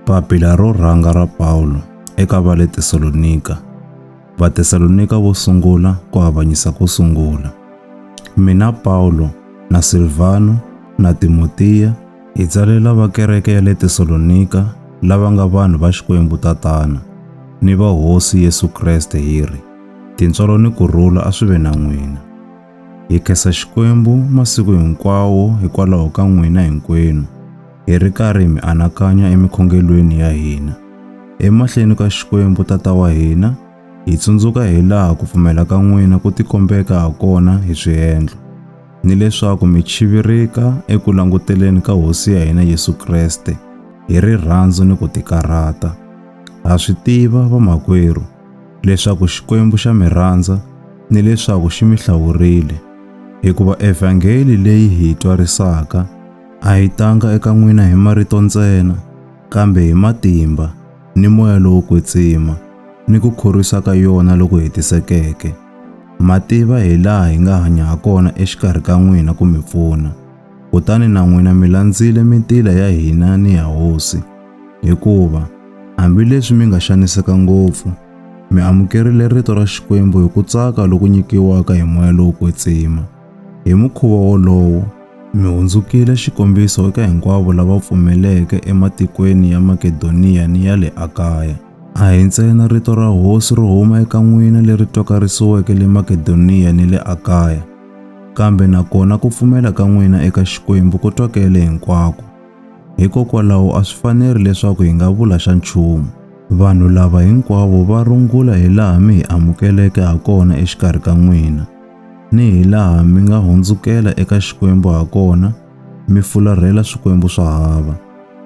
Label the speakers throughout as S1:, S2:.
S1: Papila ro rhanga ra Pawulo eka va le Tesalonika. Vatesalonika vo sungula ku avanyisa ko sungula. Mina Pawulo na Silvano na Timotiya hi tsalela va kereke ya le Tesalonika lava nga vanhu va Xikwembu Tatana ni va Hosi Yesu Kreste hi ri, Tintswalo ni ku rhula a swi ve na n'wina. Hi khensa Xikwembu masiku hinkwawo hikwalaho ka n'wina hinkwenu, hi ri karhi hi mi anakanya emikhongelweni ya hina. Emahleni ka Xikwembu Tata wa hina, hi tsundzuka hi laha ku pfumela ka n'wina ku tikombeka ha kona hi swiendlo, ni leswaku mi chivirika eku languteleni ka Hosi ya hina Yesu Kreste hi rirhandzu ni ku tikarhata. Ha swi tiva, vamakwerhu, leswaku Xikwembu xa mi rhandza ni leswaku xi mi hlawurile, hikuva evhangeli leyi hi yi twarisaka a yi tanga eka n'wina hi marito ntsena, kambe hi matimba ni moya lowo kwetsima ni ku khorwisa ka yona loku hetisekeke. Ma tiva hi laha hi nga hanya ha kona exikarhi ka n'wina ku mi pfuna, kutani na n'wina mi landzile mitila ya hina ni ya Hosi. Hikuva hambileswi mi nga xaniseka ngopfu, mi amukerile rito ra Xikwembu hi ku tsaka loku nyikiwaka hi moya lowo kwetsima. Hi mukhuva wolowo, mi hundzukile xikombiso eka hinkwavo lava pfumeleke ematikweni ya Makedoniya ni ya le Akaya. A hi ntsena rito ra Hosi ro huma eka n'wina leri twakarisiweke le Makedoniya ni le Akaya, kambe na kona ku pfumela ka n'wina eka Xikwembu ku twakele hinkwako. Hikokwalaho a swi faneri leswaku hi nga vula xa nchumu. Vanhu lava hinkwavo va rungula hi laha mi hi amukeleke ha kona exikarhi ka n'wina, ni hi laha mi nga hundzukela eka Xikwembu ha kona mi fularhela swikwembu swa hava,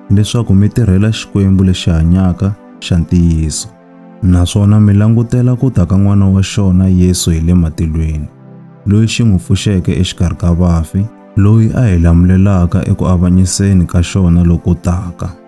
S1: leswaku mi tirhela Xikwembu lexi hanyaka xa ntiyiso. Naswona mi langutela ku ta ka N'wana wa xona Yesu hi le matilweni, loyi xi n'wi pfuxeke exikarhi ka vafi, loyi a hi lamulelaka eku avanyiseni ka xona loku taka.